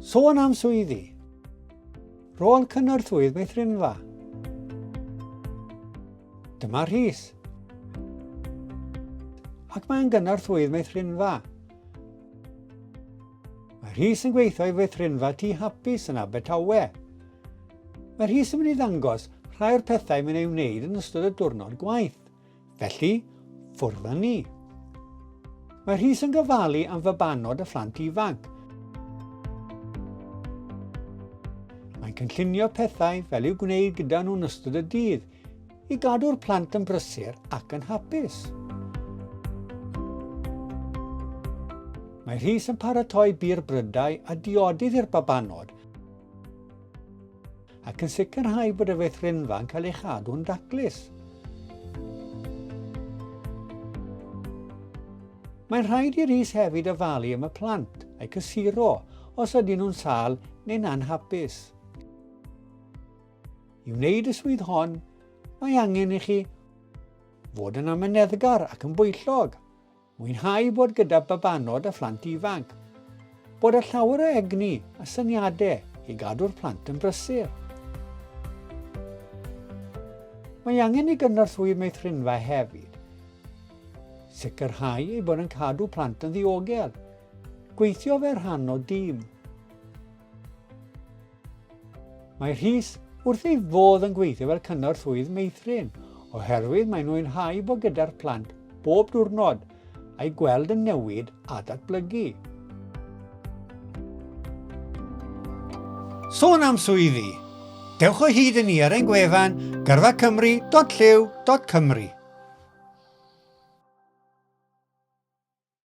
Sôn am swyddi. Rôl cynorthwydd meithrinfa. Dyma Rhys. Ac mae'n gynorthwydd meithrinfa. Mae Rhys yn gweithio i feithrinfa tu hapus yn Abertawe. Mae Rhys yn mynd i ddangos rhai o'r pethau mae'n ei wneud yn ystod y diwrnod gwaith. Felly, ffwrdd â ni. Mae Rhys yn gofalu am fabanod a phlant ifanc. Mae'n cynllunio pethau fel i'w gwneud gyda nhw'n ystod y dydd i gadw'r plant yn brysur ac yn hapus. Mae Rhys yn paratoi bir brydau a diodydd i'r babanod ac yn sicrhau bod y feithrinfa yn cael ei chadw'n daclus. Mae'n rhaid i'r is hefyd ofalu am y plant a'i cysuro os ydyn nhw'n sal neu'n anhapus. I wneud y swydd hon, mae angen i chi fod yn amyneddgar ac yn bwyllog. Mwynhau bod gyda babanod a phlant ifanc. Bod â llawer o egni a syniadau i gadw'r plant yn brysur. Mae angen i gynorthwydd meithrinfa hefyd sicrhau ei bod yn cadw plant yn ddiogel, gweithio fe rhan o dîm, Mae Rhys wrth ei fodd yn gweithio fel cynorthwyydd meithrin oherwydd mae'n mwynhau bod gyda'r plant bob diwrnod a'i gweld yn newid a datblygu. Sôn am swyddi, dewch o hyd i ni ar ein gwefan gyrfacymru.llyw.cymru.